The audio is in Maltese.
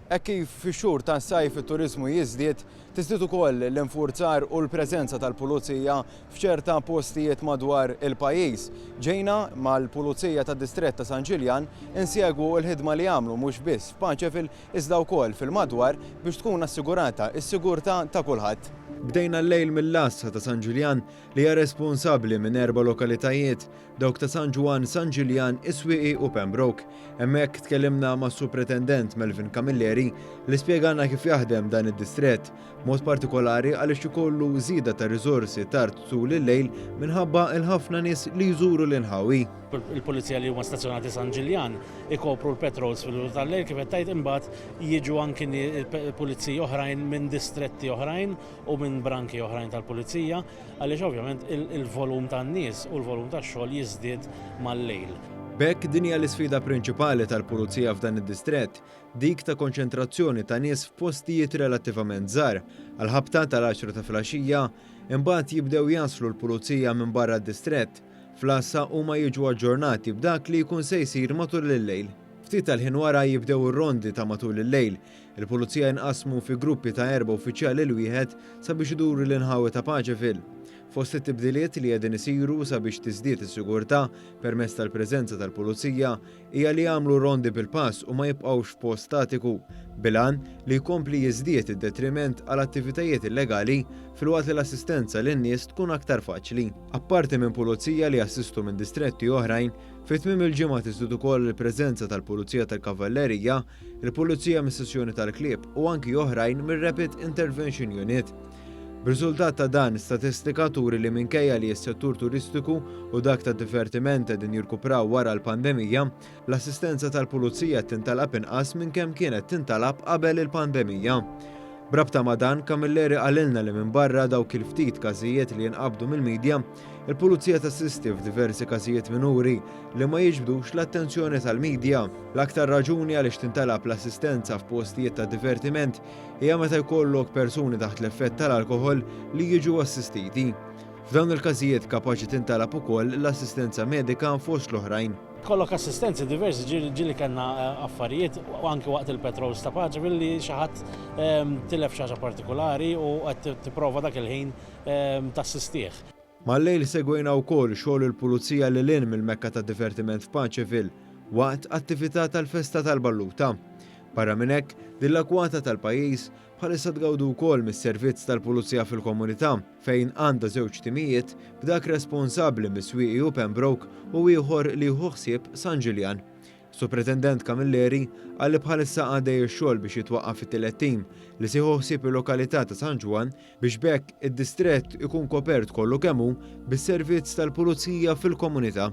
Hekk kif fix-xhur tas-sajf it-turiżmu jiżdied, tiżdied ukoll l-infurzar u l-preżenza tal-pulizija f'ċerta postijiet madwar il-pajjiż. Ġejna mal-Pulizija tad-Distrett ta' San Ġiljan insegwu l-ħidma li jagħmlu mhux biss f'Paċeville iżda wkoll fil-madwar biex tkun assigurata s-sigurtà ta' kulħadd. Bdejna l-lejl mill-Għassa ta' San Ġiljan li hija responsabbli minn erba' lokalitajiet dawk ta' San Ġwann, San Ġiljan, is-Swieqi u Pembroke. Hemmhekk tkellimna mas-Supretendent Melvin Camilleri li spjegalna kif jaħdem dan id-distrett, b'mod partikolari għaliex ikollu żieda ta' riżorsi tard tul il-lejl minħabba l-ħafna nies li jżuru l-inħawi. Il-Pulizija li huma stazzjonati San Ġiljan ikopru l-patrols fil-bidu tal-lejl kif qed tgħid imbagħad jiġu anki Puliziji oħrajn minn distretti oħrajn u minn branki oħrajn tal-Pulizija. Għaliex ovvjament il-volum tan-nies u l-volum tax-xogħol jiżdied mal-lejl. B'hekk din hija l-isfida prinċipali tal-Pulizija f'dan id-distrett, dik ta' konċentrazzjoni ta' nies f'postijiet relattivament żgħar. Għall-ħabta tal-għaxra ta' filgħaxija, imbagħad jibdew jaslu l-Pulizija minn barra d-distrett. Fl-għassa huma jiġu aġġornati b'dak li jkun se jsir matul il-lejl. Ftit tal-ħin wara jibdew ir-rondi ta' matul il-lejl, Il-Pulizija jinqasmu fi gruppi ta' erba' uffiċjali 'l wieħed sabiex iduru l-inħawi ta' paċi fil. Fost it-tibdiliet li qegħdin isiru sabiex tiżdied is-sigurtà permezz tal-preżenza tal-Pulizija hija li jagħmlu rondi bil-pass u ma jibqgħux f'post statiku bil-għan li jkompli jiżdied id-detriment għal attivitajiet illegali filwaqt li l-assistenza lin-nies tkun aktar faċli. Apparti minn Pulizija li jassistu minn distretti oħrajn, fi tmiem il-ġimgħa tiżdied ukoll il-preżenza tal-Pulizija tal-Kavallerija il-Pulizija mis-Sezzjoni tal-Klieb u anki oħrajn mir-Rapid Intervention Unit. B'riżultat ta' dan, statistika turi li minkejja li s-settur turistiku u dak tad-divertiment qegħdin jirkupraw wara l-pandemija, l-assistenza tal-Pulizija qed tintalab inqas minn kemm kienet tintalab qabel il-pandemija. B'rabta ma' dan, Camilleri qalilna li minbarra dawk il-ftit każijiet li jinqabdu mill-midja, Il-Pulizija tassisti f'diversi każijiet minuri li ma jiġbdux l-attenzjoni tal-midja. L-aktar raġuni għaliex tintalab l-assistenza f'postijiet ta' divertiment hija meta jkollok persuni taħt l-effett tal-alkoħol li jiġu assistiti. F'dawn il-każijiet kapaċi tintalab ukoll l-assistenza medika fost l-oħrajn. Tkollok assistenzi diversi ġieli kellna eh, affarijiet u anki waqt il-petrols ta' paċi billi xi ħadd ehm, tilef xi ħaġa partikolari u qed tipprova dak il-ħin tassistih. Mal-lejl segwejna wkoll xogħol il-Pulizija lil hinn mill-Mekka tad-divertiment f'Paċeville waqt attività tal-Festa tal-Balluta. Barra minn hekk, din l-akwata tal-pajjiż bħalissa tgawdi wkoll mis-servizz tal-Pulizija fil-Komunità fejn għandha żewġ timijiet b'dak responsabbli mis-Swieqi u Pembroke u ieħor li jieħu ħsieb San Ġiljan. Supretendent Camilleri qal li bħalissa għaddej ix-xogħol biex jitwaqqaf it-tielet tim li se jieħu ħsieb il-lokalità ta' San Ġwann biex b'hekk id-distrett ikun kopert kollu kemm hu bis-servizz tal-pulizija fil-komunità.